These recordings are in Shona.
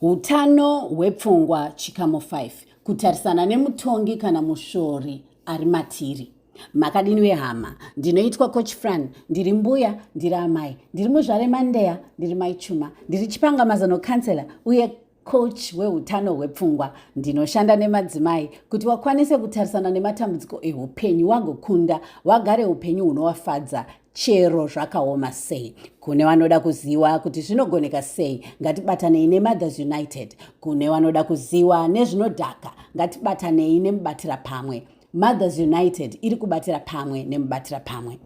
Utano hwepfungwa chikamu 5 kutarisana nemutongi kana mushori ari matiri. Makadini wehama, ndinoitwa coach Fran, ndiri mbuya, ndiri amai, ndiri muzvare Mandeya, ndiri mai Chuma, ndiri chipanga mazano counselor uye coach weutano hwepfungwa. Ndinoshanda nemadzimai kuti wakwanise kutarisana nematambudziko ehupenyu wagokunda, wagare upenyu hunowafadza. chero zvakaoma sei kune vanoda kuziwa kuti zvinogoneka sei ngatibatanei nemothers united kune vanoda kuziwa nezvinodhaka ngatibatanei nemubatira pamwe mothers united iri kubatira pamwe nemubatira pamwe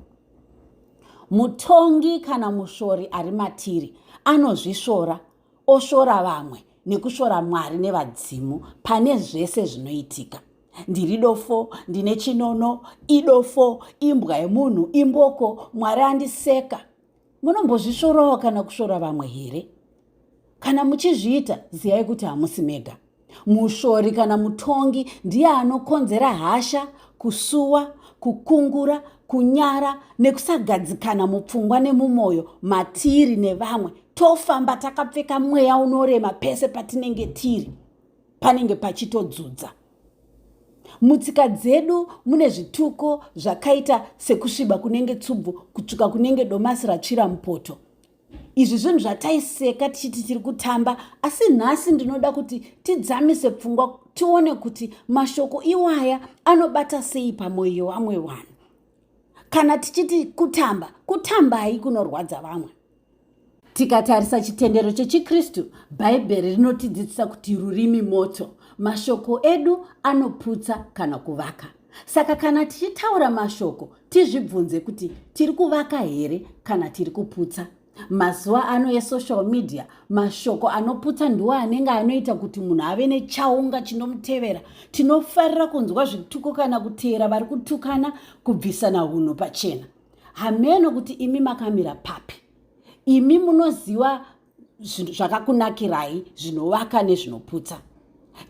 mutongi kana mushori ari matiri anozvisvora oshora vamwe nekushora mwari nevadzimu pane zvese zvinoitika ndiri dofo ndine chinono idofo imbwa yemunhu imboko mwari andiseka munombozvisvorawo kana kushora vamwe here kana muchizviita ziyai kuti hamusi mega mushori kana mutongi ndiye anokonzera hasha kusuwa kukungura kunyara nekusagadzikana mupfungwa nemumwoyo matiri nevamwe tofamba takapfeka mweya unorema pese patinenge tiri panenge pachitodzudza mutsika dzedu mune zvituko zvakaita sekusviba kunenge tsubvu kutsvuka kunenge domasi ratsvira mupoto izvi zvinhu zvataiseka tichiti tiri kutamba asi nhasi ndinoda kuti tidzamise pfungwa tione kuti mashoko iwaya anobata sei pamwoyo yevamwe vanhu kana tichiti kutamba kutambai kunorwadza vamwe tikatarisa chitendero chechikristu bhaibheri rinotidzidzisa kuti rurimi moto mashoko edu anoputsa kana kuvaka Saka kana tichitaura mashoko tizvibvunze kuti tiri kuvaka here kana tiri kuputsa. Mazuva ano esocial media mashoko anoputsa ndiwo anenge anoita kuti munhu ave nechaunga chinomutevera. Tinofarira kunzwa zvituko kana kuteera vari kutukana kubvisana unhu pachena. Hameno kuti imi makamira papi. Imi munoziva zvakakunakirai zvinovaka nezvinoputsa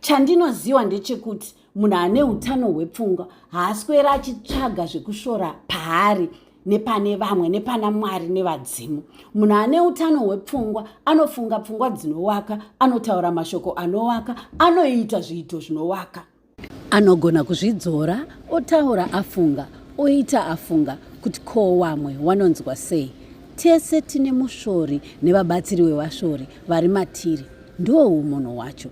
chandinoziva ndechekuti munhu ane utano hwepfungwa haaswera achitsvaga zvekushora paari nepane vamwe nepana mwari nevadzimu munhu ane utano hwepfungwa anofunga pfungwa dzinowaka anotaura mashoko anowaka anoita zviito zvinowaka Anogona kuzvidzora otaura afunga, oita afunga kuti ko wamwe wanonzwa sei. Tese tine mushori nevabatsiri wevashori vari matiri, ndiwo umunhu wacho.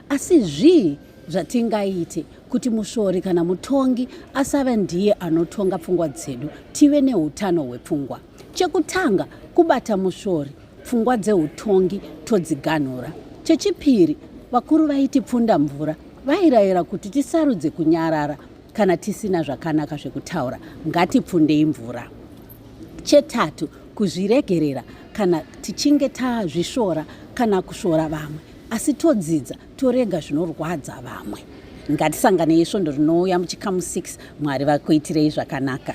Asi zvii zvatingaite kuti mushori kana mutongi asave ndiye anotonga pfungwa dzedu tive neutano hwepfungwa? Chekutanga, kubata musvori, pfungwa dzeutongi todziganhura. Chechipiri, vakuru vaiti pfunda mvura vairayira kuti tisarudze kunyarara kana tisina zvakanaka zvekutaura, ngatipfundei mvura. Chetatu, kuzviregerera kana tichinge tazvisvora kana kusvora vamwe, asi todzidza torega zvinorwadza vamwe. Ngatisanganei svondo rinouya muchikamu 6 Mwari vakuitirei zvakanaka.